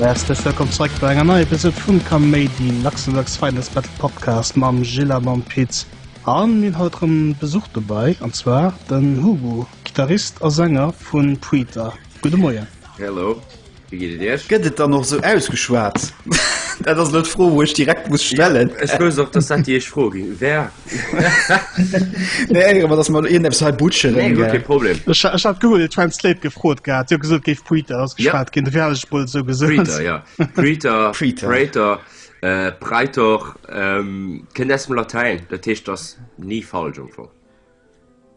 Herzlich willkommen zurück bei einer neuen Episode von Comedy Luxemburgs Finest Battle Podcast mam Gilla mam Piz an mir haut einen Besuch dabei und zwar den Hugo Gitarrist und Sänger von Preeter Guten Morgen Hello Wéi geet et Iech? Gëtt et dann och esou ausgeschwat? Dat ass elo d'Fro, wou ech direkt muss stellen. Ech wousst och, dass dat déi éischt Fro gi wär. Mir éiere mer, dass mer elo iergendeppes hei butscheren. Nee, guer kee Problem. Ech hat Google Translate gefrot gehat, déi hu gesot, et géif Preter ausgeschwat ginn, dofir hat ech et mol esou gesot. Preter, jo. Preter, Praetor, Praetor, kënnt aus dem Latäin, dat heescht, ass ni falsch am Fong.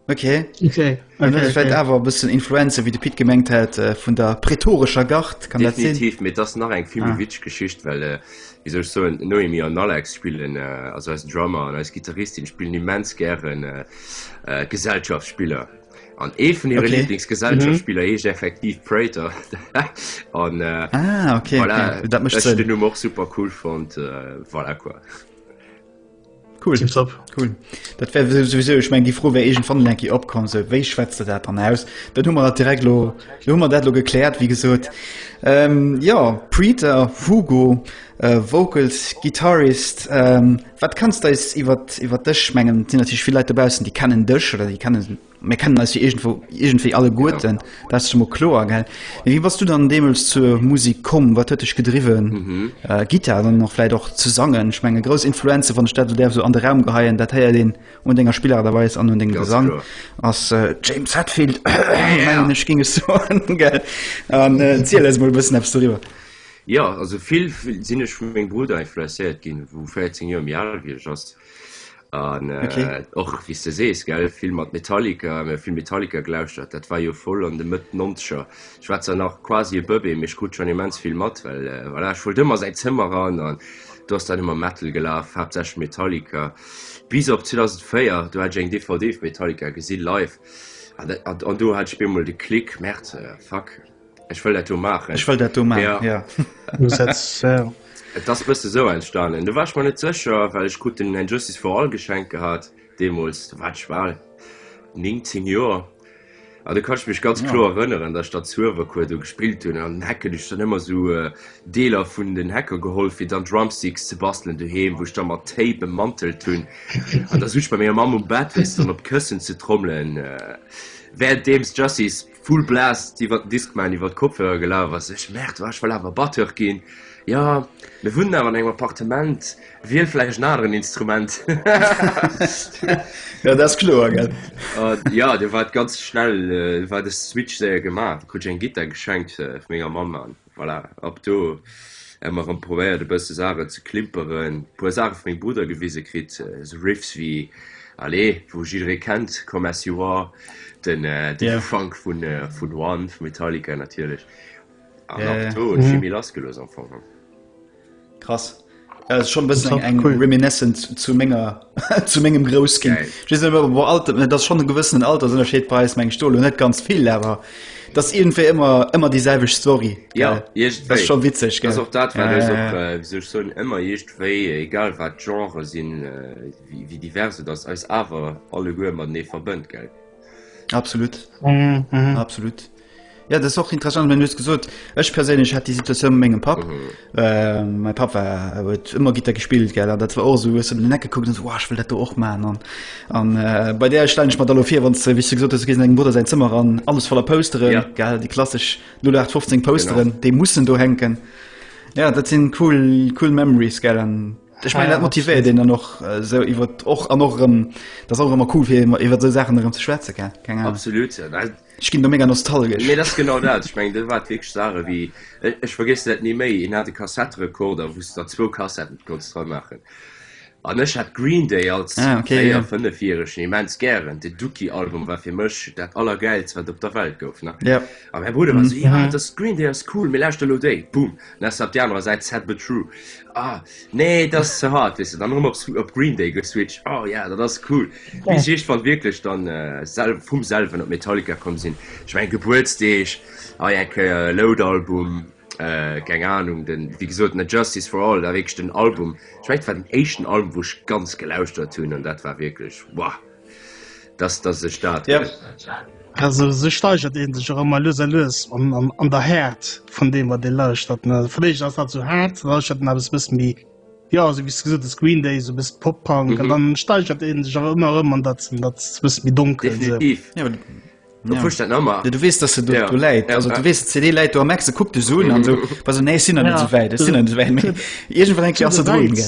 Okay. Okay. Dann okay, vielleicht okay. aber ein bisschen Influencer, wie der Pit gemengt hat, äh, von der prätorischer Gart. Kann Definitiv, das das nach eine viel ah. Geschichte, weil, äh, wie soll ich so, Noemi und Alex spielen, äh, also als Drummer und als Gitarristin spielen immens gern äh, äh, Gesellschaftsspieler. Und eh von ihren okay. Lieblingsgesellschaftsspieler mhm. ist effektiv Prater. und, äh, ah, okay. Voilà, okay. Das, das ist den Nummer auch super cool fand. Äh, voilà, quoi. Cool. Tiptop. Cool. Dat wär souwisou, ech meng déi Fro wär iergend wann enki opkomm, sou wéi schwätzt de dat dann aus? Dat hu mer dat direkt lo hu mer dat lo gekläert, wéi gesot. Ähm, ja, Preeter, Hugo, äh, Vocals, Gitarrist, ähm, wat kanns deis iwwer iwwer dech mengen? Sinn natierlech vill Leit dobaussen, déi kennen dech oder déi kennen Mir kennen eis jo iergendwou, iergendwéi alleguerten, dat ass jo mol kloer, gell? Mee wéi bass du dann deemools zur Musik komm? Wat huet dech gedriwwen, Gittar dann och vläit och ze sangen? Ech mengen, grouss Influenze, wann ech dat elo däerf esou an de Raum geheien, dat héiert een un denger Spillart a Weis an un dengem Gesang, ass James Hetfield, mengen ech, géing ech soen, gell? An ziel eis emol e bëssen eppes doriwwer. Jo, also vill sinn ech vu mengem Brudder influencéiert ginn, wou 14 Joer méi al wéi ech ass. an äh, okay. och wie du sees gell vill mat Metallica mir vill Metallica gelauschtert dat war jo voll an de Mëtt nonscher ich war zwar nach quasi e Bëbe mech gut schon immens vill mat well äh, voilà, ich wollt ëmmer säit Zëmmer ran an du hast dann immer Metal gelaf hab sech Metallica bis op 2004 du hat eng DVD vu Metallica gesinn live an, an, an du hat spemol de Klick Mäert äh, fuck Ech wëll dat do maachen. Ech wëll dat do maachen, jo. Et ass e bësse sou entstanen. Do war ech mer net sécher, well ech krut den And Justice for All geschenkt gehat deemools. Do war ech bal 19 Joer. An do kann ech mech ganz kloer erënneren, datt ech dann Zuewercours do gespillt hunn. An den Hacken hu ech dann ëmmer sou Deeler vun den Hacker geholl, fir dann Drumsticks ze bastelen doheem, wou ech da mat Tape emmantelt hunn. An da sou ech bei menger Mamm um Bett, wéi se dann op d'Këssen ze trommelen, währenddeems Justice. full blast iwwer den Discman iwwer d'Kopfhörer gelaf ass. Ech merde war ech well awer Batteur ginn. Ja mir wunnen awer an engem Appartement wiel vläicht en aneren Instrument. ja dat ass kloer gell. An ja du war et ganz schnell war de Switch séier gemaach, krut ech eng Gittar geschenkt vu menger Mamm an voilà, ab do emmer rem probéiert e bësse Saachen ze klimperen, puer Saachen vu mengem Brudder gewise kritt, sou Riffs wéi allez, wou jidderee kennt, Come As You Are, den den Funk vun vun One, vu Metallica natierlech, an ab do hunn ech vill méi lass gelooss am Fong. Krass. Ja, schon bëssen eng cool. reminiscent zu ménger zu mengegem Grousskin. wo alt dat schon gewëssen Alter sonner scheet Preis meng Stohl hun net ganz vill awer. Das irgendwé immer immer die selweg Story ja, ja. das schon witzeg das auch dat ja, ja, ja. Äh, so schon immer jecht wéi egal wat Genre sinn äh, wie, wie diverse das als awer alle Guer man nee verbënnt geld. Absolut mhm, mhm. absolut. Ja, das auch interessant wenn du gesucht ich persönlich hat die Situation Menge Pap mhm. äh, mein Pap war wird immer Gitter gespielt gell das war auch so ist in den Ecke gucken so, oh, ich will das auch machen und, und äh, bei der stelle ich mal da vier wann du wie gesagt hast gegen Bruder sein Zimmer ran alles voller Posteren ja. gell die klassisch 0815 Posteren genau. die mussten du hängen ja das sind cool cool Memories gell und, Ech mein, dat motivéiert een dann och äh, so iwwer och an och rëm dat och ëmmer cool fir iwwer so Sachen rëm ze schwätze ke keng absolut Ech ginn do mega nostalgesch nee, dat genau dat ich mein, de wat wég sare wie ech äh, vergis dat ni méi en hat de Kassetterekorder wos der zwo Kassetten kos dra machen an ech hat Green Day als ah, okay, ja. fënnefjährigeschen immens gären de Duki Album war fir mech dat aller geils wat op der Welt gouf ne ja a mein Bruder mm -hmm. ja, das Green Day as cool mir lauschte lo déi boom nas ab der anderer Seite sad but true Ah, nee, dat ass ze hart, weess de. Dann erëm op Swi-, op Green Day geswitcht. Oh ja, dat ass cool. Wéi se iech-, wann wierklech dann äh, sel-, vum selwen op Metallica komm sinn. Ech mengen, Gebuertsdeeg, hei eng Kéier e Load-Album, äh, keng Ahnung, den, wéi gesot, net Justice For All, dat wierklech den Album, ech mengen, dat war den éischten Album, wou ech ganz gelauschtert hunn an dat war wierklech, wouah! dass der sech dat. Also sou steigert een sech och ëmmer lues a lues an, an, an der Häert vun deem wat ee lauschtert. Ne? Vläicht ass dat sou haart, lauschtert en eppes bëssen méi ja sou wéi s du gesot hues Green Day, sou bëssen Pop-Punk an Mhm. dann steigert een sech awer ëmmer erëm an dat, an dat bëssen méi donkel. So. Definitiv. Ja, Du ja. pusht dat Nummer. Ja, du wees, dass se do, ja. do läit. Ja. Also, du wees, CD läit do am Ex, kuck de Sohn an so, was so, nee, sind ja. net so wäit, sind net so wäit. Irgendwann denkt ja, so drin, gell.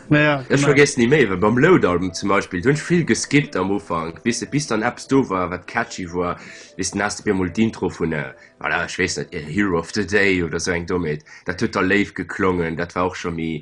Naja. Ich genau. vergesse nie mehr, weil beim Load-Album zum Beispiel, du hast viel geskippt am Anfang, bis, bis dann Apps do war, was catchy war, bis dann hast du mir mal die Intro von, äh, voilà, ich weiß nicht, Hero of the Day oder so ein Domet, das hat total live geklungen, das war auch schon mehr,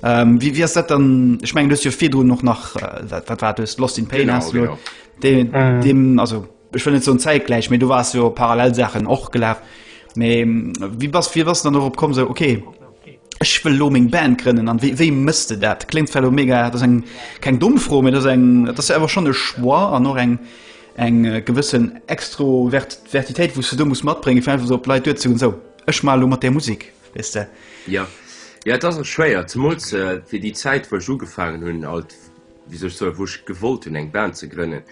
Wéi ass dat dann? Ech mengen du hues jo virdrun och nach wat wat war hues Lost in Pain Genau, hast du genau. de, Mhm. dem also ech wëll net so zeitgleich méi du warst jo parallel Sachen och gelaf méi wie bass wie bass dann op komm so okay ech wëll lo meng Band grënnen an wéi wéi mësst du dat klingt zwar lo mega dat ass eng keng dumm froh mir dat eng dat ass awer schon e choix an och eng eng äh, gewëssen extrovert vertitéit wous du do muss matbringen fir einfach so op Leit duer ze hunn so ech mal lo mat der Musik Wees de? Ja. Ja, et ass och schwéier, zemools äh, fir déi Zäit, wou ech ugefaangen hunn, alt, wéi soll ech soen, wou ech gewollt hunn, eng Band ze grënnen,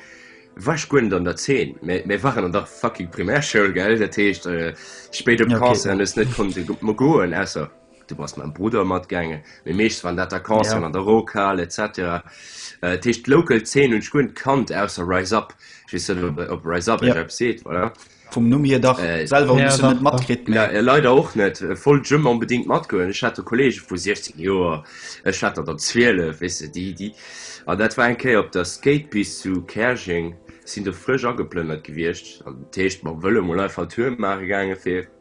war ech guer net an der Zeen. Mä mir waren an der fucking Primärschoul, gell? Dat heescht, äh, spéit op d'Concerte ja, okay. hues net konnte mo goen, ausser du bass mam Bruder matgaangen. Mee meeschtens waren dat der Concerte ja. an der Rockhal, etc. Äh, dat heescht, d'Local Zeen hunn ech guer net kannt, ausser Rise Up. Ich weess net, ob, ob Rise Up ja. eppes seet, oder? Vum Numm hier dach. Selwer hunn ech se net matkritt, mee. Nä, leider och net. Wollt ech ëmmer onbedingt matgoen. Ech hat do Kolleege vu 16 Joer, ech hat der dann 12, weess de, déi, déi. An dat war eng Kéier op der Skatepist zu Käerjeng, sinn do frësch ageplënnert gewiescht. Dat heescht, ma wëlle mol einfach en Tour maache gaange fir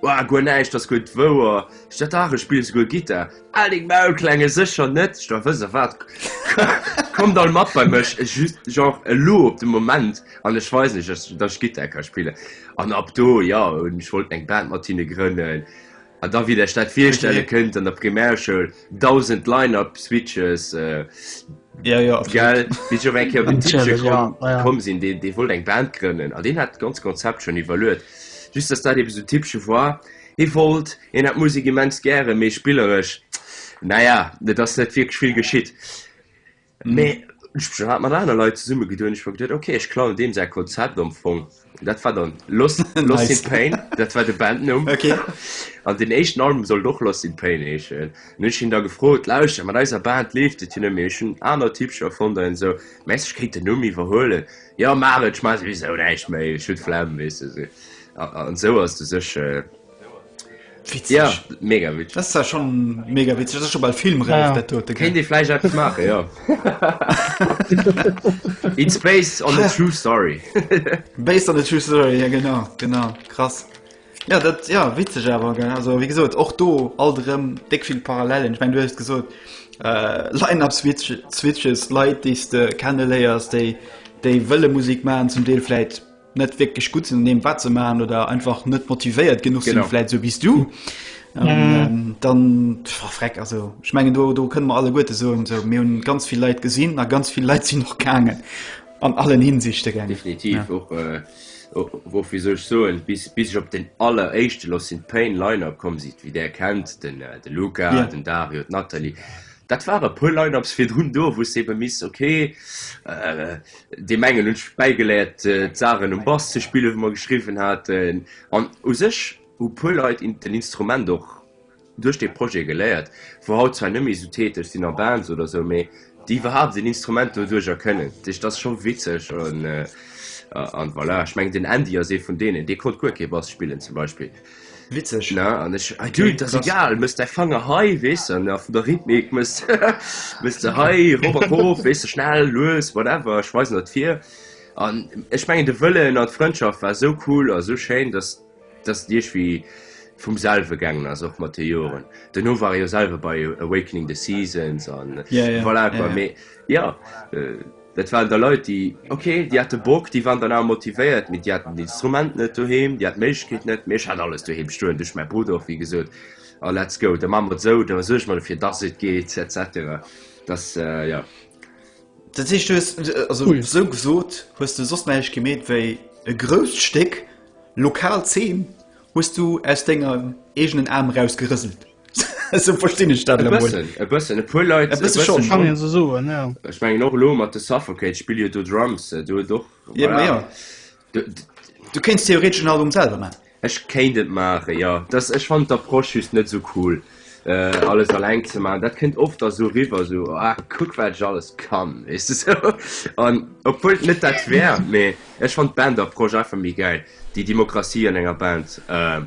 Woah, guer näischt ass guer d'Wouer. Ech dat dach, ech spillen souguer Gittar. Hal deng Maul, Klenge, sécher net! Ech da wësse wat. Kommt all mat bei mech, just genre elo op de Moment, an ech weisen iech, datt ech Gittar ka spillen. An ab do, jo, ech wollt eng Band mat hinne grënnen. An da, wéi der iech dat virstelle kënnt, an der Primärschoul, 1000 Lineup Switches äh, ja, ja, gell, kom sinn de dee wollt eng Band grënnen a den hat ganz Konzept schon iwwerluet just dass dat so typsche war e wollt en hat Musik immens gre méi spillerech naja net ass net virgeschwill geschitt Mee ech hu schon mat aner Leit zesumme geduet, ech hu geduet okay ech klauen deem säi Konzept am Fong. Dat war dann Lost Lost in Pain, dat war de Bandnumm. Okay. An den éischten Album sollt och Lost in Pain heeschen. An hunn ech hien da gefrot, lauschter mat eiser Band leeft et jo net méi, ech hunn aner Typcher erfonnt an esou, mengst ech kéint den Numm iwwerhuelen? Jo maach et, ech maache souwisou näischt méi, ech hunn d'Flemm, weess de esou. An esou ass de sech. Ja, mega witzeg. Dat ass zwar schonn mega witzeg, dat ass scho bal filmräif, dat dote, gell? Kéint ee vläicht eppes maachen, jo. It's based on a true story. Based on a true story, ja genau, genau, krass. Ja, dat, ja, witzeg awer, gell? Also, wéi gesot, och do alt erëm déck vill Parallelen. Ech meng, du hues gesot, Line-Up-Switch, Switches, Leit, déi s de kenneléiers, déi, déi wëlle Musek maachen, zum Deel vläicht. net wirklich gut sinn dem wat ze man oder einfach net motivéiert genug sinn vielleicht so bis du ähm, ähm, dann verreck also ich mengen du du können man alle gute so und so mir hun ganz viel Leiit gesinn na ganz viel Leiit sinn noch gangen an allen hinsichte gern definitiv ja. auch, äh, auch, wo wie sech so bis bis ich op den aller echte los sind pain liner kom sieht wie der kennt den äh, de luca ja. den dario natalie Dat waren e puer Line-ups virdrun do, wou s de ebe misst, ok, deem engen hunn ech bäigeléiert, d'Saachen um Bass ze spillen, wou mer geschriwwen haten. An u sech hu puer Leit den Instrument och duerch dee Projet geléiert, wou haut zwar net méi esou täteg sinn a Bands oder esou, mee déi iwwerhaapt en Instrument doduercher kënnen. Dat heescht, dat ass scho witzeg. An voilà, ech mengen, den Andy ass ee vun deenen, dee konnt guer kee Bass spillen zum Beispill. Witzeg, ne? An ech, ah, dude, das ist egal, muss dein Fanger hei, weess du, ne, vun der Rhythmik muss, muss du hei, Robert Hof, weess du, schnell, lues, whatever, ech weisen dat vir. An ech mengen, de Wëllen an d'Frëndschaft war sou cool a sou schéin, dass, dass et iergwi vum selwe gaangen ass, och mat de Joren. Duerno war ech jo selwe bei Awakening the Seasons an, yeah, yeah, voilà, yeah, yeah. mee, jo, Dat waren da Leit, déi, ok, déi hate Bock, déi waren dann awer motivéiert, mee déi haten den Instrument net doheem, déi haten d'Méiglechkeet net. Mee ech hat alles doheem stoen, duerch mäi Brudder och, wéi gesot, a let's go, da maache mer et esou, da suerge mer dofir, dass et geet, et cetera. Dass, jo. Dat heescht, du hues, also esou gesot, hues du soss näischt gemeet wéi e grousst Stéck lokal Zeen hues du aus dengem eegenen Aarm eraus gerëselt? so verstinn ech dat e emol. bëssen e bëssen e puer Leit E bësse schonn, Kann een esou soen, ja. Ech mengen och elo mat de Suffocate spill jo do Drums äh, do huet och Eben, voilà. ja. D- d- Du kéints theoretesch en Album selwer maachen. Ech kéint et maachen, jo. Dass ech fannen d'Approche just net esou cool äh, alles alleng ze maachen. Dat kënnt oft da sou riwwer sou, ah kuck wat ech alles kann, weess de sou. An obwuel et net dat wär, mee ech fannt d'Band-Approche einfach méi gäil, déi Demokratie an enger Band. Äh,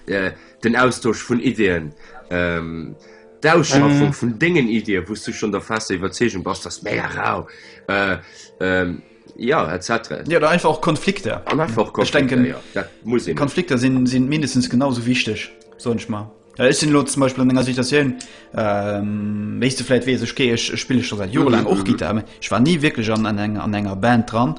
äh, den Austosch vun Ideen, ähm, d'Ausschaffung mhm. vun dengen Idee, wos du schon der fest Iwerzegung bas das mé rau. Äh, ähm, ja etc ja da einfach auch konflikte an einfach konflikte, denken, ja. dat muss ich konflikte sind sind mindestens genauso wichtig so nicht mal ja, ich sind zum beispiel an situation ähm, weißt du vielleicht wie ich gehe ich spiele schon seit jahren lang auch mhm. gitarre ich war nie wirklich an an enger, an enger band dran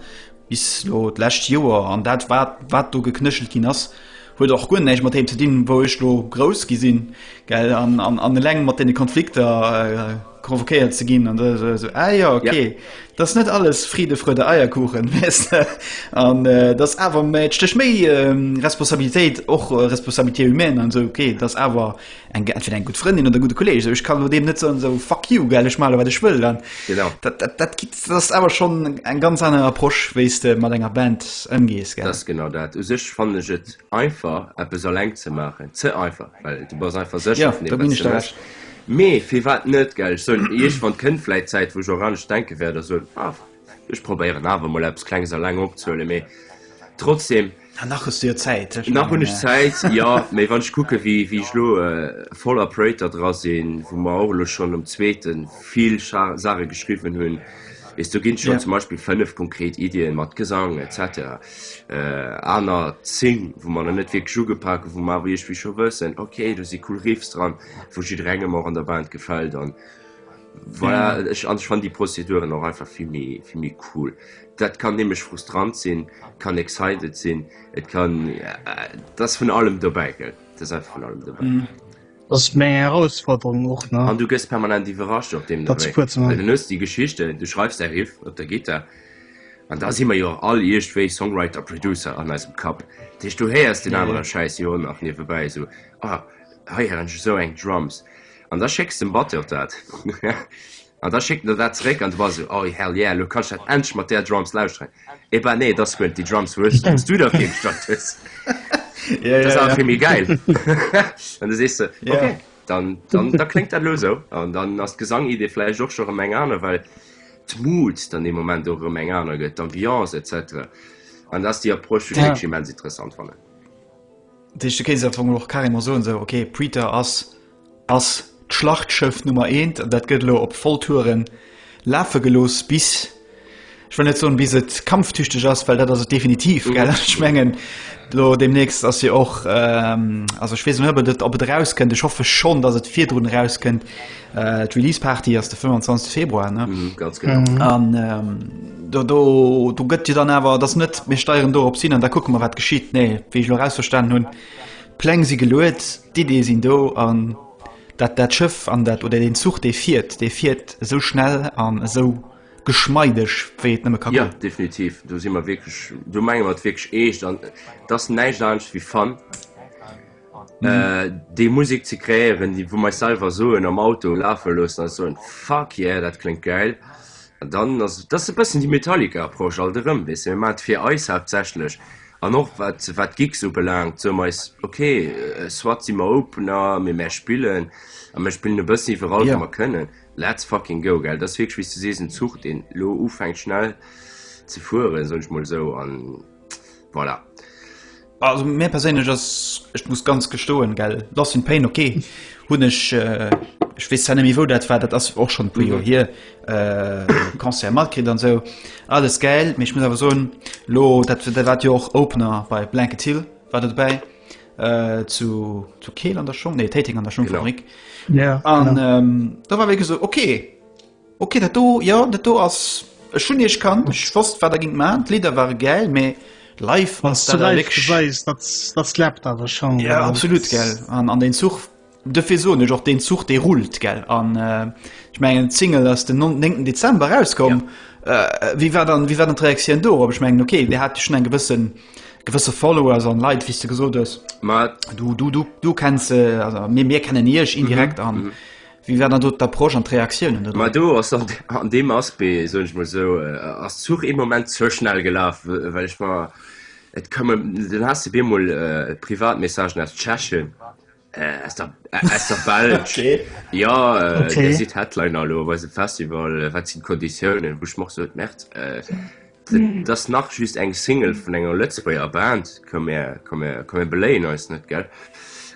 Bis elo d'lescht Joer, an dat wat, wat do geknéchelt ginn ass, huet och guer näischt mat deem ze dinn, wou ech elo grouss gi sinn, gell, an, an, an eleng mat deene Konflikter convoquéiert ze ginn, an esou, esou, ah jo, ok, dat ass net alles Fride, Freude, Eierkuchen, weess de, an dat ass awer, mä et stécht méi Responsabilitéit, och Responsabilité humaine an esou, ok, dat ass awer. Eng Gag fir eng gutt Frëndin oder gudde Kolleeg, esou ech kann elo deem net soen, esou fuck you, gell, ech maache elo wat ech wëll. An dat, dat, dat gi, dat ass awer schonn eng ganz aner Approche, wéi s de mat enger Band ëmgees, gell. Dat ass genau dat. U sech fannen ech et einfach, eppes eleng ze maachen, ze einfach, well du bass einfach sécher vun deem, wat s de méchs. Mee firwat net, gell. Ech soen, iergendwann kënnt vläicht d'Zäit, wou ech och anescht denke wäert a soen, ah, ech probéieren awer emol eppes Klenges eleng opzehuelen. Mee trotzdeem. Ah, nach hues du jo Zäit. Nach hunn ech Zäit, jo. Mee wann ech kucke wéi ech elo voll a Projter dra sinn, wou mer och elo schonn um zweete vill Saache geschriwwen hunn, weess du, ginn schonn zum Beispill fënnef konkret Iddien mat Gesang et cetera, aner zéng wou mer nach net wierklech ugepak hunn, wou mer awer iergendwéi scho wëssen, ok, do si cool Riffs dran, wou jidderengem och an der Band gefält an voilà. An ech fannen déi Prozeduren och einfach vill méi cool. Dat kann nämlech frustrant sinn, kann excited sinn, et kann et ass vun allem dobäi gell, et ass einfach vun allem dobäi. Dat ass meng Herausforderung och, ne? An du gëss permanent iwwerrascht op deem Niveau, well du hues déi Geschichten, du schreifs däi Riff op der Gittar, an da si mer jo och all iergdwéi Songwriter, Producer an eisem Kapp. Dat heescht, du héiers deen anere Schäiss jo och nach niewebäi esou, oh, hei hätt ech esou eng Drums, an da schécks de dem Batteur dat. An da schéckt en der dat zeréck an du bass esou, Oi, hell yeah, elo kann ech dat endlech mat där Drums lauschteren. Et bah, nee, et ass guer net déi Drums, wou s du der fir gestallt hues. Dat ass awer vill méi gäil. An du sees de, ok, dann, dann, da kléngt dat elo esou. An dann ass d'Gesangidee vläicht och scho erëm eng aner, well d'Mood dann dee Moment och erëm eng aner gëtt, d'Ambiance et cetera. An dat ass déi Approche, déi ech wierklech immens interessant fannen. Dat heescht, du kéints am Fong och carrément soen, esou, ok, Preater ass ass d'Schlachtschëff Nummer eent an dat gëtt elo op Volltouren lafe gelooss bis, ech wëll net soen, bis et kampftüchteg ass, well dat ass et definitiv, gell? Ech mengen, elo deemnächst ass jo och, also ech weess net, ob et erauskënnt, ech hoffe schonn, datt et virdrun erauskënnt, d'Release Party ass de 25 Februar, ne? Ganz genau. An do gëtt jo dann awer, et ass net, mir steieren do erop hin an da kucke mer, wat geschitt, nee, wéi ech elo erausverstanen hunn, D'Pläng si geluet, d'Iddie sinn do an dat dat Schëff an dat oder deen Zuch dee fiert, dee fiert esou schnell an esou geschmeideg wéi et nëmme ka goen. Jo, definitiv, do si mer wierklech, do menge mer et wierklech eescht an et ass näischt anescht wéi Fun, déi Musek ze kreéieren, déi wou mer eis selwer soen am Auto lafe loossen a soen, fuck yeah, dat kléngt gäil. An dann ass et, dat ass e bëssen déi Metallica-Approche alt erëm, weess de, mir maachen et fir eis haaptsächlech, An och wat d'Gigs ubelaangt, soe mer eis, ok, soit si mer Opener, mee mär spillen a mär spillen e bëssen iwwerall, wou mer kënnen. Let's fucking go, gell? Dat ass wierklech, wéi s du sees, en Zuch, deen elo ufänkt schnell ze fueren, soen ech emol esou, a voilà. Also mär perséinlech ass, ech muss ganz gestoen, gell, Loss in Pain, ok, hunn ech, ech weess zwar net méi wou dat war, dat ass och schonn e puer Joer hier, äh, Concert matkritt an sou alles geil méch muss awer soen lo dat der wat jo och Opener bei Blanket Hill war dat dobäi äh, zu, zu Keel an der Schong nee Täting an der Schongfabrik ja, an ähm, da war wé so okay okay dat do ja dat do ass schon ich kann ich wurst war dagegen ma Lider war geil méi live was du live weißt, das, das klappt aber schon ja, ja absolut ge an, an den Zug Dofir soen ech och deen Zuch dee rullt gell an ech mengen d'Single ass den 9 Dezember rauskomm. Ja. Äh, wie war dann wie war dann Reaktioun do op ech mengen okay der hat schon eng gewëssen gewësse Follower an Leiit wie du gesot ass du du du du kennst se äh, also mir mir kennen iech indirekt mhm, an mhm. wie war dann dot der Prosch an Reaktionen Ma du ass an, an dem Aspe so ich mal so äh, ass Zug im moment zo schnell gelaf well ich war et kann den hast du bemol äh, Privatmessagen aus Tschechen. Äh, aus der, äh, aus der Belsch. okay. Ja, äh, okay. sieht Headline hallo, was Festival, äh, was sind Konditionen, wo ich mach so März. Äh, mhm. das nach just eng Single von enger Lützburger Band, können wir, können wir, können wir beleihen, ist nicht, gell?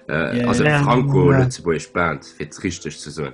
Äh, yeah, also yeah, Franco yeah. Lützburg Band, wird richtig zu sagen.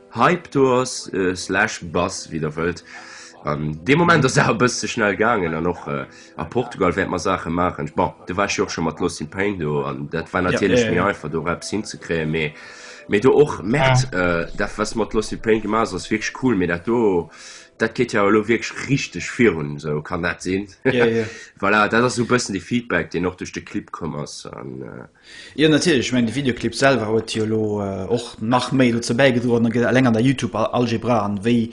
Hypetours, slash Bus, wéi der wëllt. An dee Moment ass awer e bëss ze schnell gaangen an och a Portugal wäert mer Saache maachen. Bon, du waars jo och scho mat Lost in Pain do an dat war natierlech méi einfach do eppes hinzekréien, mee mee do och merkt dat wat s de mat Lost in Pain gemaach hues ass wierklech cool, mee dat do dat geet jo awer elo wierklech richteg virun esou, kann dat sinn? Voilà, dat ass esou e bëssen de Feedback deen och duerch de Clip komm ass. Jo natierlech, ech mengen de Videoclip selwer huet jo elo och nach méi dozou bäigedroen, da gëtt eleng an der YouTube-Algebra an wéi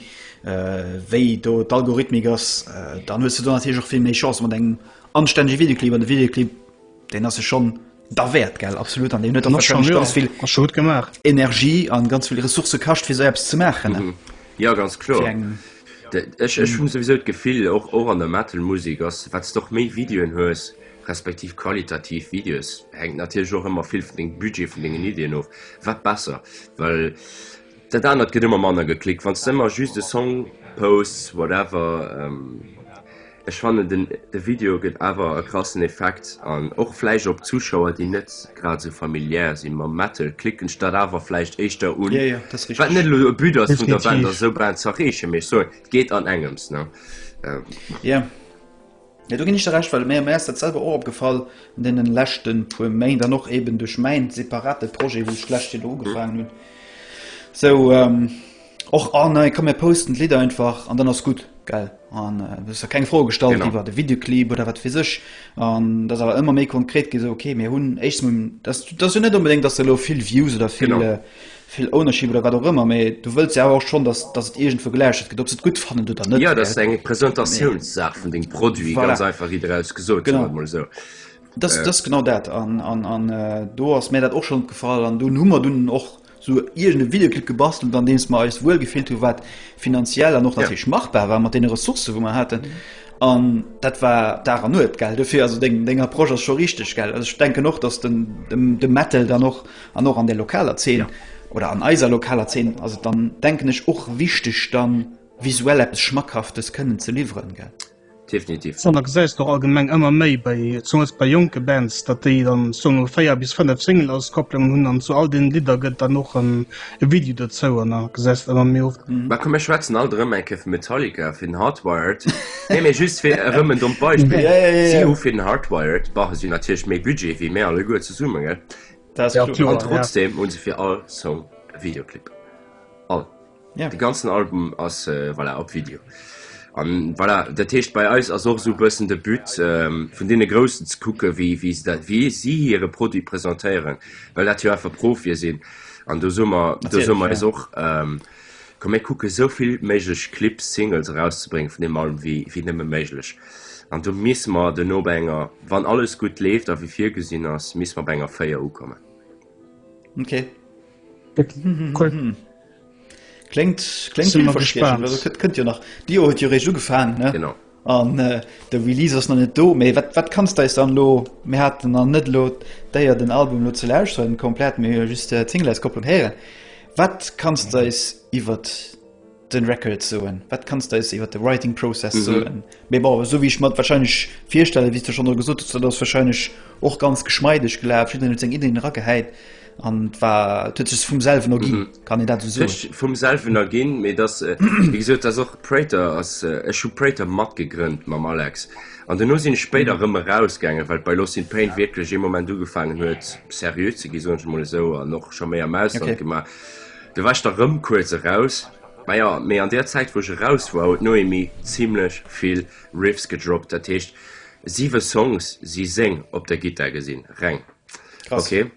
wéi do d'Algorithmik ass, dann hues de do natierlech och vill méi Chancë mat engem anstännege Videoclip. An de Videoclip deen ass sech schonn derwäert, gell, absolut, an deen huet och warscheinlech ganz vill Energie an ganz vill Ressourcë kascht fir esou eppes ze maachen. Jo ganz kloer, ech ech hunn souwisou d'Gefill och och an der Metal-Musek ass, wat s de och méi Videoen hues, respektiv qualitativ Videos, hänkt natierlech och ëmmer vill vun dengem Budget, vun dengen Iddien of, wat besser, well dat anert gëtt ëmmer manner geklickt, wann s de ëmmer just e Song posts, whatever. Ech fannen den de Video gëtt awer e krassen Effekt an och vläicht op Zuschauer, déi net grad esou familiär si mam Metal, klicken sech dat awer vläicht éischter un, wat net elo e But ass vun der Band, ass esou Band z'erreechen, mee ech soen, et geet an engems, ne? Jo do gin ech der Recht, well mir ass dat selwer och opgefall an deenen leschten puer Méint an och eben duerch mäin separaten Projet wou ech d'lescht Joer do ugefaangen hun sou och ah nei komm mir posten d'Lidder einfach an dann ass gudd gell an ech hun keng Froe gestallt iwwert de Videoclip oder wat wees ech an et ass awer emmer méi konkret gi sou ok mir hun éischstens mol, et ass jo net onbedéngt dass se elo vill Views oder vill vill Ownership oder wat och ëmmer, mä du wëlls jo awer och schonn, datt datt et iergendwou gelauschtert gëtt, ob se et gutt fannen oder net. Jo, datt ass eng Presentatiounssaach vun dengem Produit, ganz einfach, wéi daraus gesot, soen wir mol esou. Datt ass genau dat an an an do ass mär dat och schonn opgefall an dunn hu mer dunn och esou iergende Videoclip gebastelt, an deems mer eis wuel gefillt hunn, wat finanziell an och natierlech machbar war mat deene Ressourcë wou mer haten. An dat war Dag an Nuet, gell, dofir also deng deng Approche ass scho richteg, gell. Also ech denken och, datt den de Metal dann och An och an der lokaler Zeen oder an eiser lokaler Zeen ass et dann, denken ech, och wichteg, da visuell eppes Schmackhaftes kënnen ze liwweren, gell? Definitiv. An da gesäis de och allgemeng ëmmer méi bei, zumools bei jonke Bands, datt déi dann soen emol véier bis fënnef Single-Auskopplungen hunn an zu all deenen Lidder gëtt dann och en e Video dozou an da gesäis de ëmmer méi oft, Mä komm, mir schwätzen alt erëm eng Kéier vum Metallica, fir den Hardwired, nee, mee just fir erëm en dommt Beispill, si hu fir den Hardwired, bon, si hunn natierlech méi Budget wéi mir alleguer zesummen, gell? Dat ass kloer. An trotzdeem hu se fir all Song e Videoclip. All. De ganzen Album ass voilà op Video. An voilà, dat heescht bei eis ass och esou e bëssen de But vun deene Groussen ze kucke wéi wéi se dat, wéi si hire Produit presentéieren, well dat jo einfach Profie sinn. An do soe mer, do soe mer eis och. Komm mir kucken esou vill méiglech Clips, Singles erauszebréngen vun deem Album wéi nëmme méiglech. An do misst mer duerno bei enger, wann alles gutt leeft a wéi virgesinn ass, misst mer bei enger 4 ukommen. Ok. Cool. Kléngt, kléngt villverspriechend. Kënnt jo nach. D'Joer huet jo réischt ugefaangen, ne? Genau. An de Release ass nach net do, mee wat wat kanns de eis dann elo, mir haten nach net elo d'Éier den Album elo ze lauschteren komplett, mee hu jo just d'Singleauskopplung héieren, wat kanns de eis iwwert de Record soen, wat kanns de eis iwwert de Writing Process soen? Mee bon, esou wéi ech mer et warscheinlech virstellen, wéi s de schonn elo gesot hues, dat ass warscheinlech och ganz geschmeideg gelaf, jiddereen huet seng Iddien eragehäit. An et war, et huet sech vum selwen erginn, Mhm. kann een dat esou soen? Sech vum selwen erginn, mee dass, äh, wéi gesot, dass och Prater ass, äh, ech hu Prater matgegrënnt mam Alex. An duerno sinn ech spéider erëm erausgaangen, well bei Lost in Pain wierklech ee Moment ugefaangen huet, seriö ze ginn, soen ech emol esou, an och scho méi am Ausland Okay. gemaach. Du war ech da erëm kuerz eraus. Ma jo, mee an där Zäit, wou ech eraus war, huet d'Noémie zimlech vill Riffs gedroppt. Dat heescht, siwe Songs si seng op der Gittar gesinn, reng. Krass. Okay.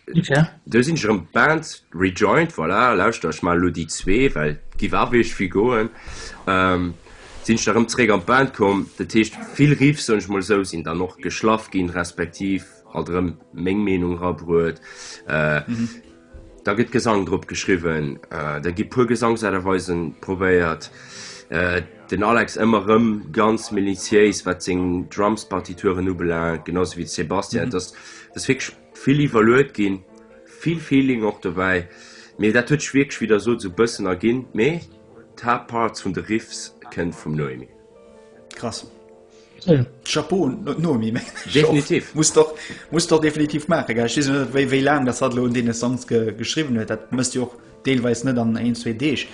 Inwiefern? Du sinn ech erëm Band rejoined, voilà, lauschter ech mal lo déi zwee, well giff awer ech vill goen. Ähm, sinn ech da erëm zréck an d'Band komm, dat heescht vill Riffs, soen ech mol esou, sinn dann och geschlaff ginn, respektiv halt erëm meng Meenung rabruet. Äh, Da gëtt Gesang drop geschriwwen, da gi puer Gesangsaart a Weise probéiert, den Alex ëmmer erëm ganz minutiéis, wat seng Drumspartituren ubelaangt, genau sou wéi de Sébastien. Et ass wierklech vill iwwerluet ginn, vill Feeling och dobäi, mee dat huet sech wierklech, wéi Der sot, esou e bëssen erginn, mee d'Haaptparts vun de Riffs kënnt vum Noémie. Krass. Chapeau Noemi, muss der definitiv maachen. Ech weess net wéi laang dat hat lo un dee Songs geschriwwen huet. Dat mësst Dir och deelweis net an eent, zwee Deeg.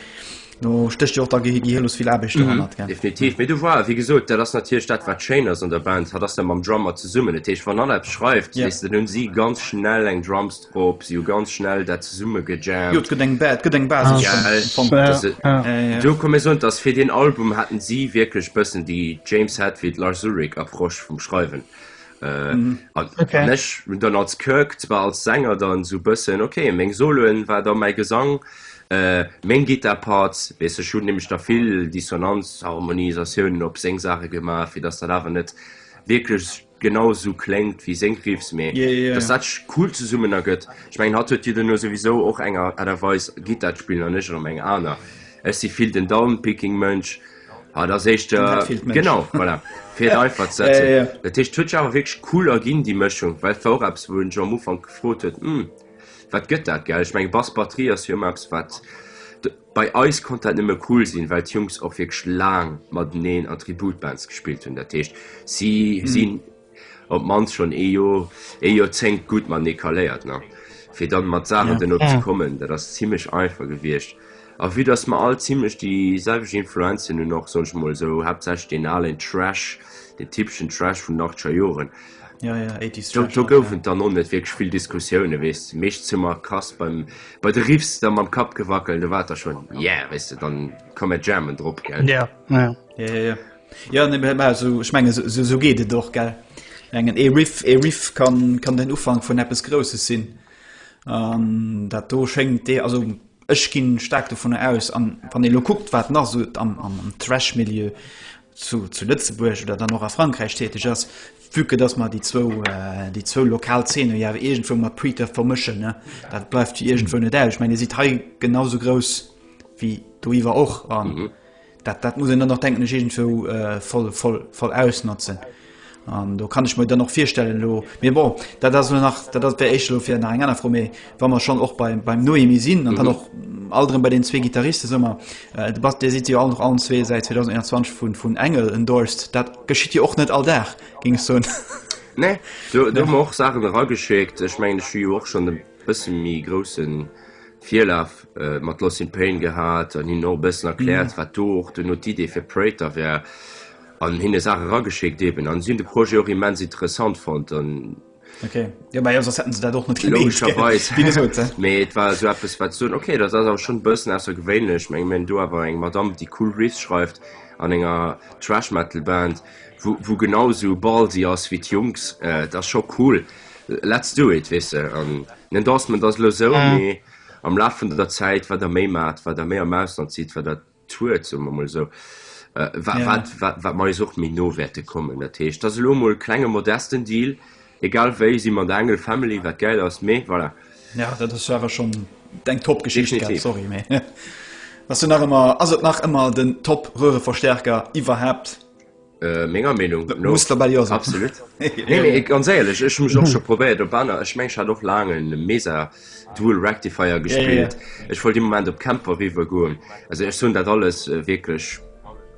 Do stécht jo och da gehirlos vill Aarbecht dohannert. Definitiv. Mee du war, wéi gesot, dat ass natierlech dat, wat schéin ass an der Band, hatt ass da mam Drummer zesummen. Dat heescht, wann hatt eppes schreift, weess de, dann hu si ganz schnell eng Drums. Bob, si hu ganz schnell dat zesumme gejammt. Jo, et gëtt eng Bad, gëtt eng Basis. Ja, du komm mir soen, dass fir den Album haten si wierklech bëssen déi James Hetfield, Lars Ulrich Approche vum Schreiwen. Äh, mm. okay. Ech hun dann als Kirk zwar als Sänger dann so bëssen okay, meng Soloen war da mei Gesang, äh, meng Gitterparts, wees ech hun nämlech da vill Dissonanz, Harmonisatiounen op seng Sache gemaach, fir dass dat awer net wierklech genau esou kléngt wéi seng Riffs, mee yeah, yeah, yeah. dass dat cool zesummen ergëtt. Ech mengen hatt huet Dir duerno souwisou och enger Aart a Weis Gittar d'spillen an ech erëm eng aner. Ech si vill den Downpicking Mënsch. Ah, dat ass éischt äh, genau voilà, fir et einfach ze setzen. yeah, yeah. Dat heescht, huet sech awer wierklech cool erginn déi Mëschung, well et war och eppes wou en sech am Ufank gefrot huet, hm, wat gëtt dat? Gell, ech mengen Bass-Batterie ass jo ëmmer eppes wat Bei eis konnt dat nëmme cool sinn, well d'Jungs och wierklech laang mateneen an Tributbands gespillt hunn. Dat heescht, si sinn op d'mannst schonn ee Joer, ee Joerzéngt gutt matenee caléiert. A fir dann mat Saachen dono ze kommen, dat ass zimmlech einfach gewiescht. A vue dass mer all zimmlech déi selwecht Influenzen hunn, och, soen ech mol esou, haaptsächlech deen alen Thrash, deen typeschen Thrash vun den achtzeger Joren, Ja, ja, 80s Do, Trash. do Rock, gouf ja. et dann och net wierklech vill Diskussioune weess de, meescht ze mer krass beim, bei de Riffs da mam Kapp gewackelt, do war et da schonn, yeah, weess de, dann komm mir jammen drop, gell. Ja, ja. Ja, ja, ja. Ja, nee, mä- mä so, ech menge, so, so, so geet et och, gell. Engen, ee Riff, ee Riff kann, kann den Ufank vun eppes Grousses sinn. An dat do schéngt dee, also ech ginn staark dovunner aus, an wann ee lo kuckt, wat nach sou am, am, am Thrash-Milieu zu Lëtzebuerg oder dann och a Frankräich täteg ass, vue que dass mer déi zwou, déi zwou lokal Zeene jo awer iergendwou mat Preterth vermëschen, ne? Dat bleift jo iergendwou net aus. Ech mengen, Dir sidd hei genau sou grouss wéi doiwwer och an dat, dat muss een dann och, denken ech, iergendwou voll, voll, voll ausnotzen. An do kann ech mer dann och virstellen elo, mee bon, dat ass elo nach, dat ass wär éischt elo fir nach eng aner Fro, mee wa mer schonn och beim, beim Noémie sinn an dann och all erëm bei deenen zwee Gittaristen, soe mer, et bass, Dir sidd jo all nach allen zwee säit 2021 vun, vun Engel endorsed, dat geschitt jo och net all Dag, géing ech soen. Nee, do hu mer och Saachen erageschéckt. Ech mengen, ech hu jo och schonn e bësse méi grousse Virlaf mat Loss in Pain gehat an hinnen och e bëssen erkläert, wat do och duerno d'Idee fir Praetor war. An hinne Saache rageschéckt eben. An si hunn de Projet och immens interessant fonnt. An. Okay. Jo, mä jo, soss hätten se dat och net gemeet. Logescherweis. Wéi gesot, hä? Mee et war esou eppes, wat soen, okay, dat ass awer schonn e bëssen aussergewéinlech. Meng, mir hunn do awer eng Madamm, déi cool Riffs schreift an enger Thrash-Metal-Band, wou, wou genau esou ballsy ass wéi d'Jungs. Et ass scho cool. Let's do it, weess de. An den Endorsement ass elo esou, mee am Laf vun der Zäit, wat Der méi maacht, wat Der méi am Ausland sidd, wat Der. Tour, soen mer mol esou, wa, wat, wat, wat mer eis och méi no wäerte kommen. Dat heescht, dat ass elo emol e klenge modesten Deal. Egal wéi si mer an der Engel Family, wat gäil ass, mee voilà. Ja, dat ass jo awer schonn eng Top-Geschicht, gell? Definitiv. Sorry, mee ass jo nach ëmmer, ass et nach ëmmer den Top-Röhreverstärker iwwerhaapt? Äh, menger Meinung no. Muss dabei ja sein. Absolut. nee, nee, ganz ehrlich, ich muss auch schon probiert, ob einer, ich meine, ich hatte auch lange einen Mesa Dual Rectifier gespielt. Yeah, yeah. Ich wollte im Moment auf Camper rüber gehen. Also ich tun das alles äh, wirklich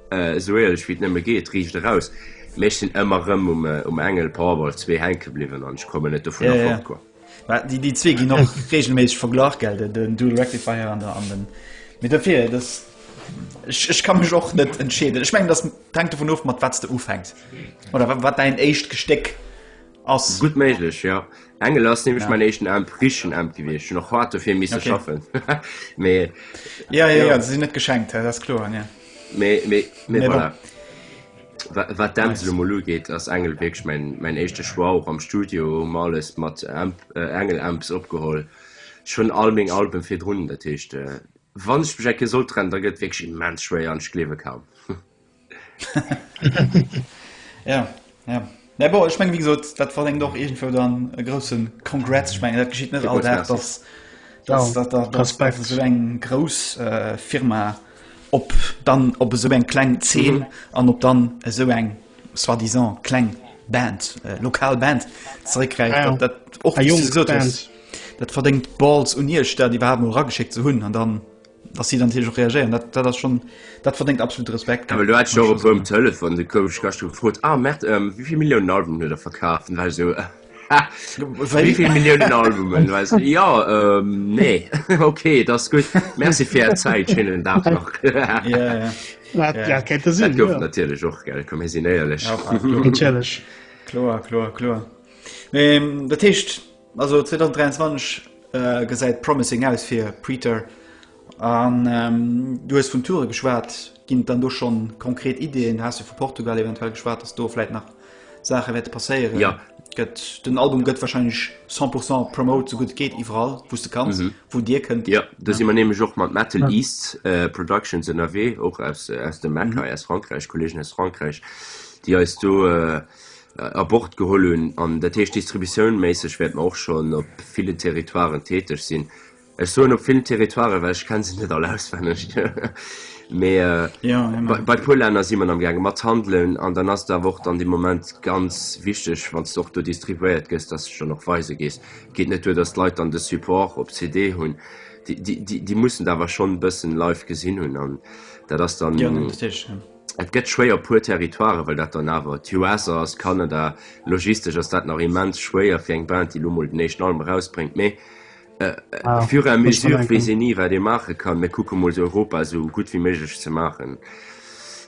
äh, so ehrlich, wie es nicht mehr geht, riecht raus. Mich sind immer rum um, äh, um Engel Powerball 2 hängen geblieben und ich komme nicht davon yeah, yeah. Abkommen. Déi zwee ginn och regelméisseg verglach gell, den Dual Rectifier an der an den Mee derfir dass ech kann mech och net entscheeden. Ech meng dat tank vun of mat wat de ufängt oder wat wat dein éischt Gesteck ass gut méiglech ja engel ass nämlich ja. mein echten am frischen am gewicht noch hart dafür miss okay. schaffen me, ja, ja, ja, ja. sie net geschenkt das klo ja. me, me, me, me voilà. Wat d'Amsel emol ugeet, ass Engl wierklech mäin éischte Choix, och am Studio hu mer alles mat Engl Amps opgeholl. Ech hunn all meng Alben virdrun, dat heescht wann ech mech eng Kéier sollt trennen, da gëtt et wierklech immens schwéier an ech gleewe kaum. Mä bon, ech mengen, wéi gesot, dat verdéngt och iergendwou dann e grousse Congrats. Ech mengen, dat geschitt net all Dag, dass esou eng grouss Firma op dann op esou eng kleng Zeen an op dann esou eng soi-disant kleng Band, lokal Band zeréckgräift. Dat verdéngt Balls un Iech, dat iwwerhaapt emol erageschéckt ze hunn an dann. dass sie dann natürlich auch reagieren dat, dat das schon dat verdingt absolute Respekt aber du hat schon op dem telefon de komisch gas gefrot ah merkt ähm, wieviel Millionen Alben oder verkaufen weil so wieviel Millionen Albumen weißt du? ja ähm, nee okay das gut merci für Zeit schönen Tag noch ja, ja. Ja, ja. Ja, kennt das Sinn, ja. natürlich auch geil komm hier sind ehrlich ja, klar klar klar, klar. Ähm, dat hecht Also 2023 gesäit promising aus fir Preeter. An du hues vun Toure geschwat, ginn et dann do schonn konkret Ideeën? Haas du vu Portugal eventuell geschwat, datt do vläit nach Saache wäerte passéieren? Ja. Gëtt den Album gëtt wahrscheinlech 100 pourcent promote sou gutt et geet iwwerall wou s de kanns, wou dir kënnt. Jo, do si mer nämlech och mat Metal East Productions ënnerwee, och aus dem MECA, aus Frankräich, Kolleegen aus Frankräich, déi eis do a Bord geholl hunn an dat heescht distributiounméisseg wäerte mer och schonn op villen Territoiren täteg sinn. Ech soen op villen Territoiren, well ech kenne se net all auswenneg, mee bei e puer Länner si mer am gaange mat handelen an dann ass et awer och dann dee Moment ganz wichteg, wann s de och do distribuéiert gëss, dass s de dann och weise gees. Et geet net duer, dass d'Leit dann de Support op CD hunn, déi mussen et awer schonn e bëssen live gesinn hunn an dat ass dann. Et gëtt schwéier op puer Territoiren, well dat dann awer d'US ass, Kanada, logistesch ass dat nach immens schwéier fir eng Band, déi elo mol den éischten Album erausbréngt. Mee au fur et à mesure weess een ni, wat ee maache kann. Mir kucke mol, Europa esou gutt wéi méiglech ze maachen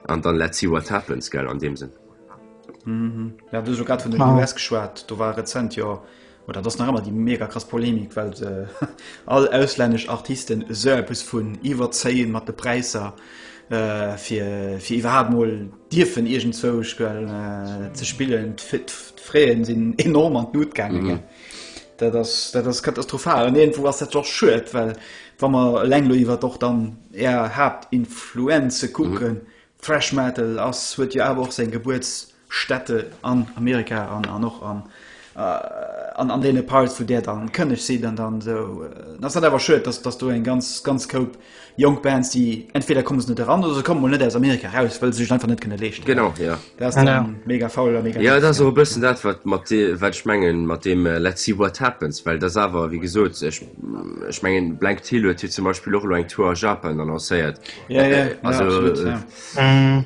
an dann let's see what happens, gell, an deem Sënn. Ja, du hues elo grad vun den US geschwat. Do war rezent jo Oh, dat ass nach ëmmer déi mega krass Polemik, well all auslännesch Artisten esou eppes vun iwwerzéien mat de Präisser, fir iwwerhaapt mol dierfen iergendzwou ze spillen. D'Fraie sinn enorm an d'Lut gaangen. Dat ass katastrophal an iergendwou ass dat och schued, well wa mer eleng elo iwwert och dann är Haaptinfluenze kucken, Thrash Metal ass, huet jo awer och seng Gebuerts. Städte an Amerika an an och an an an deene Parts, wou där dann kënneg sidd an dann esou. Dann ass dat awer schued, dass dass do eng ganz ganz Koup jonk Bands, déi entweder komme se net eran oder se komme mol net aus Amerika eraus, well se sech et einfach net kënne leeschten. Genau, ja. Dat ass dann mega faul a mega. Jo, dat ass och e bëssen dat, wat mat de wat ech mengen mat deem Let's see what happens, well dat ass awer, wéi gesot, ech ech mengen Blank Tile huet jo zum Beispill och elo eng Tour a Japan annoncéiert. Jo, jo, ja, absolut, ja.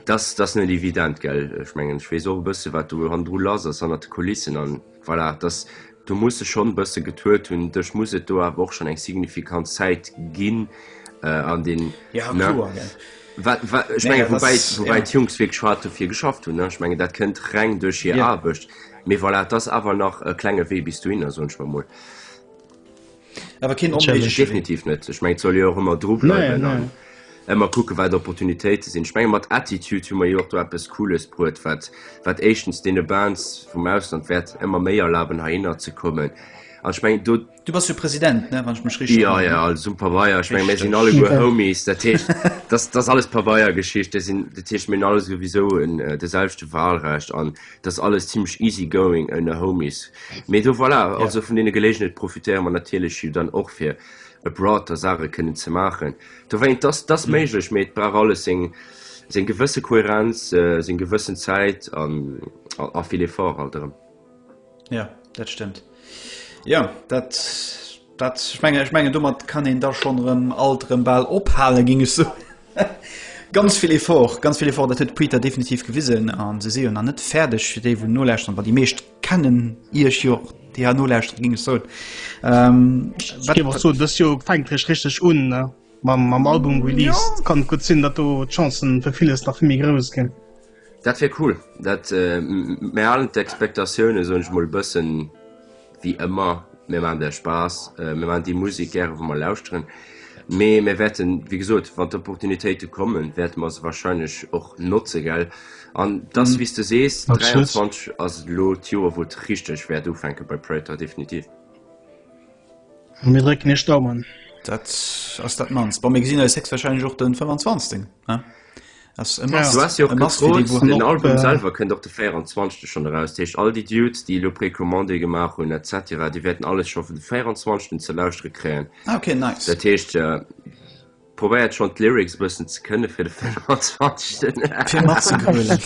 Dass ass net evident, gell? Ech mengen, ech weess och e bësse wat do hannendru lass ass, hannert de Kulissen an voilà, dass do muss sech schonn e bësse getuet hunn. Dech muss et do awer och schonn eng signifikant Zäit ginn an deen, ne? Wat, wat ech mengen, woubäi, woubäi d'Jungs wierklech hart dofir geschafft hunn, ne? Ech mengen, dat kënnt reng duerch hir Aarbecht. Mee voilà, et ass awer nach e klenge Wee bis dohinner, soen ech mer emol. Awer keen onméiglech. Definitiv net. Ech meng et soll jo och ëmmer dru bleiwen an ëmmer kucke wat Opportunitéite sinn. Ech menge mat Attitude hu mer jo och do eppes Cooles bruet, wat wat éischtens deene Bands vum Ausland wäert ëmmer méi erlaben heihinner ze kommen. An ech meng do. Du bass jo President, ne, wann ech mech richteg erënneren. Jo, jo, alles um Pabeier. Ech meng mir sinn alleguer Homies. Dat heescht, dass dass alles Pabeiergeschichte sinn. Dat heescht mir hunn allesuwisou en de selwechte Wahlrecht an. Dass alles zimlech easy going oune Homies. Mee do voilà, also vun deene Geléigenheet profitéiere mer natierlech jo dann och fir abroad da Saache kënnen ze maachen. Dowéint, dass dass méiglech, mee et brauch alles seng seng gewësse Kohärenz, seng gewëssen Zäit an a vill Effort halt erëm. Jo, dat stëmmt. Jo, dat. Dat, ech mengen, ech mengen domat kann een da schonn erëm alt erëm bal ophalen, géing ech soen. Ganz vill Effort, ganz vill Effort, dat huet d'Preeta definitiv gewisen a se si jo nach net fäerdeg. Fir déi wou nolauschteren, well déi meescht kennen Iech jo, déi hei nolauschteren, géing ech soen. Ech géif och soen, dëst Joer fänkt eréischt richteg un mam Album-Release. Et kann gutt sinn, datt do d'Chancen fir villes nach vill méi grouss ginn. Dat wier cool, dat mir halen d'Expectatiounen soen ech mol bëssen wéi ëmmer. Mir maachen der Spaass, mir maachen déi Musek gäre wou mer lauschteren, mee mir wäerten wéi gesot wann d'Opportunitéite kommen wäerte mer se wahrscheinlech och notze gell an et ass wéi s de sees 23 ass elo d'Joer wou et richteg wäert ufänke bei Praetor definitiv. Mir drécken iech d'Daumen. Dat ass dat mannst. Bon mir gesinn eis héchstwahrscheinlech och de 25. Ja. Ass e Ja. must. Du hast jo och E must, fir déi, gefrot, wou den haut, Album äh, selwer kënnt op de 24. schonn eraus. Dat heescht, all déi Dudes, déi elo Precommandé gemaach hunn et cetera, déi wäerten alles scho vun de 24. ze lauschtere kréien. Ah, okay, nice. Dat heescht, äh, probéiert schonn d'Lyrics e bëssen ze kënne fir de 24. fir matzegrölen.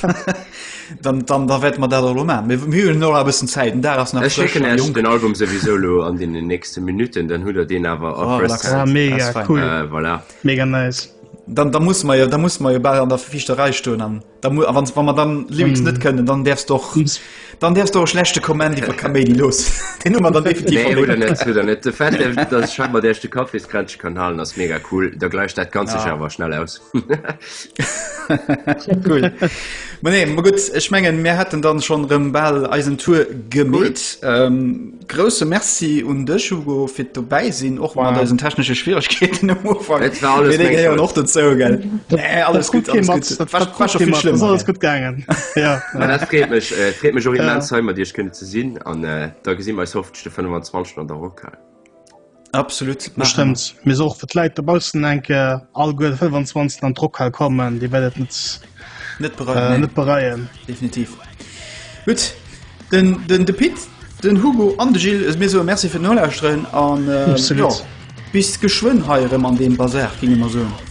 dann, dann da wäerte mer dat elo man. Mir mir hunn noch e bëssen Zäit. Den Dag ass nach Ech frësch schécken an Iech jong. den Album souwisou lo an den nächste Minuten, dann hutt der deen awer a Oh, Press relax. Ah, Hand. mega That's fine. cool. Äh, voilà. Mega nice. Dann, dann muss man ja, dann muss man ja bald an der Fichterei stehen. An, dann, wann, wann man dann Lyrics mm. nicht können, dann darfst du doch, dann darfst du auch schlechte Kommen über Kamedi los. Den Nummer dann definitiv. Nee, oder nicht, oder nicht. Der Fett, dass ich scheinbar der erste Kaffeeskränzchen kann halten, das ist mega cool. Da gleicht das Ganze ja. aber schnell aus. cool. Aber nee, gut, ich meine, wir hätten dann schon Rembal Eisentour gemäht. Cool. Ähm, Grousse Merci un dech Hugo fir dobäi sinn och mat eisen technesche Schwieregkeeten am Ufank. Et war alles meng Schuld. och dozou gell. Nee alles gutt, alles gutt. Dat war war scho vill schlimmer. Alles gutt gaangen. Ja. Mä dat freet mech, freet mech och immens hei mat Iech kënne ze sinn an da gesi mer eis hoffentlech de 25 an der Rockhal. Absolut bestimmt mir so fir Leiit der Bausen enke all go 25 an Trock hal kommen, Dir wellt net net bereien net bereien definitiv. Gut den den de Pit den Hugo an de Gil mir so Merc fir Nolauusren an bis geschwënn heieren an dem Basar gi immer so.